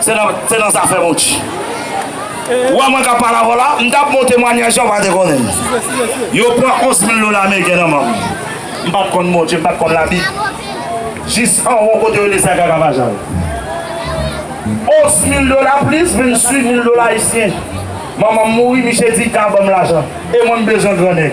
Se nan zafè Monchi. Wè mwen k ap pale avè w la, m t ap bon temwanyaj la, ou pa te konnen m. Yo pran 11 mil dola ameriken nan men m. M pa t konn Bondye, m pa t konn Labib. Jis anwo kote yo desen Kakavajal. 11 mil dola plis vin suiv mil dola ayisyen. Manman m mouri, miche di, ka ban m lajan. E mwen m bezwen gran nèg.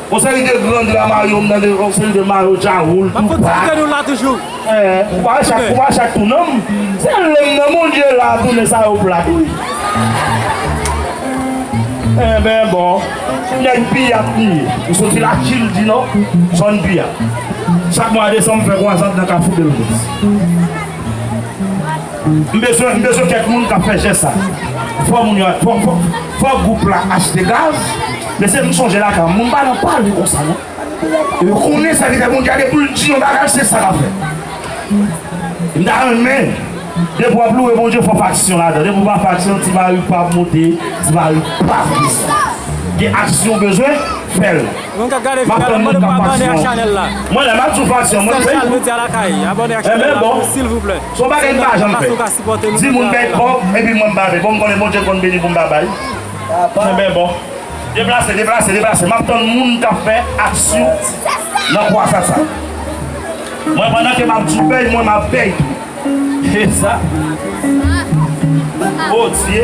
Yon seri de grand la mayo m tande yon seri de mayo dja woul tou pa. Map koute nou la toujou. Eh, ou pa wè chak, ou pa wè chak tou non. Se lèm nan moun ye la toune sa yo plat wi. Enben bon, nèg piyat li ye. Li soti la chil di non, zòn piyat. Chak mwa desanm m fè kwazad nan kafou delmas. M bezwen, m bezwen kèk moun kap fè jès sa. Fò moun yo, fò, fò. Fok group la achte gaz. Mesye m sonje lakay moun pa nan pale konsa non yo konnen sa ki fè moun gade poul di yon bagay se sa kap fèt m ta renmen depi wap loure Bondye fok aksyon ladan depi w pa fè aksyon ti mari w pap moute ti mari w pap desann gen aksyon w bezwen fèl map tann moun kap fè aksyon mwen la map toujou fè aksyon mwen m fè yon enben bon. Se yon bagay m pa janm fè. Di moun bèk bon epi mwen m bave bon m konnen Bondye konn beni pou m ta bay. Kenbe bon. Deplase, deplase, deplase. M ap tann moun k ap fè aksyon nan kwasa sa. Mwen pandan ke m ap di w bèy mwen m ap bèy tou. E sa? Sa? Odye!